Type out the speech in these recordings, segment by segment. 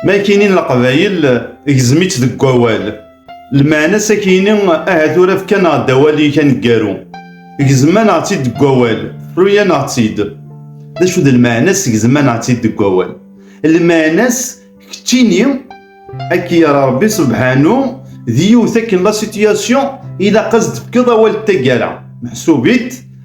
Ma kini leqbayel gzem-itt deg wawal. Lmeɛna sakini ahat ur afkan-aɣ-d awal-ik aneggaru. Gezman-aɣ-tt-id deg wawal, ruyan-aɣ-tt-id. D acu d lmeɛna-s gezman-aɣ-tt-id deg wawal? Lmeɛna-s keččini akka yara Rebbi subḥanu d yiwet akken la situation ilaq ad s-d-tefkeḍ awal d taggara meḥsub-it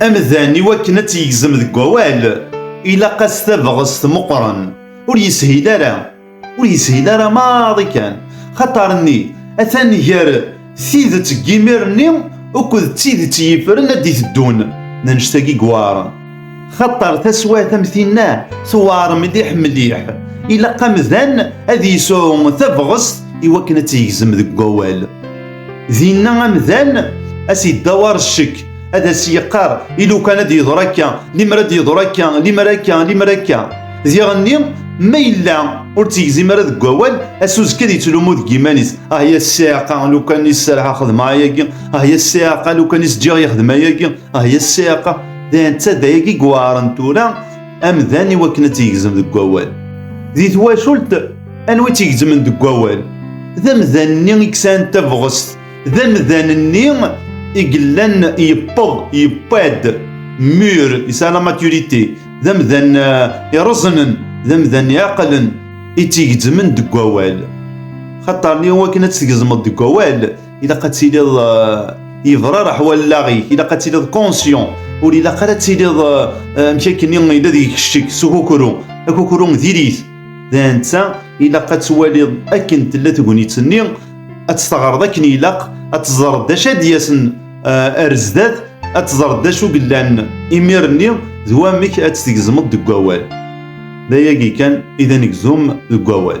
Amdan i wakken ad tt-yegzem deg wawal, ilaq-as tabɣest meqqren. Ur yeshil ara, ur yeshil ara maḍi kan, xaṭer-nni atan gar tidet n yimir-nni uked d tidet i yifren ad d-iteddun d annect-agi yuɛren. Xaṭer taswiɛt am tinna tuɛer mliḥ mliḥ, ilaq amdan ad yesɛu tabɣest i wakken ad tt-yegzem deg wawal. Dinna amdan as yeddawar ccek ad as yeqqar ilukan ad yeḍra akka limer ad yeḍra akka limer akka limer akka diɣenni ma yella ur tt-yegzim ara deg wawal asuzekka ad yettlumu deg iman-is ah ya ssiɛqa lukan i sserḥa xedmeɣ ayagi ah ya ssiɛqa lukan i s-ǧǧiɣ yexdem ayagi ah ya ssiɛqa d netta d ayagi yuɛren tura amdan i wakken ad tt-yegzem deg wawal di twacult Anwa i tt-igezmen deg wawal? D amdan-nni i yesɛan tabɣest, d amdan-nni i yellan yewweḍ, yewweḍ, mûr, yesɛa la maturité, d amdan eh, ireẓnen, d amdan iɛeqlen, i tt-igezmen deg wawal. Xaṭer i wakken ad tt-tgezmeḍ deg wawal, ilaq ad tiliḍ eh, yebrarreḥ wallaɣ-ik, ilaq ad tiliḍ conscient, ur ilaq ara ad tiliḍ eh, amek akken yella deg-k ccek s ukukru, akukru diri-t. D netta ilaq ad twaliḍ akken tella tegnit-nni, ad tt-teɣreḍ akken ilaq, ad teẓreḍ d acu ad d-yasen eh, ar zdat, ad teẓreḍ d acu yellan imir-nni d wamek ad tt-tgezmeḍ deg wawal. D ayagi kan i d anegzum deg wawal.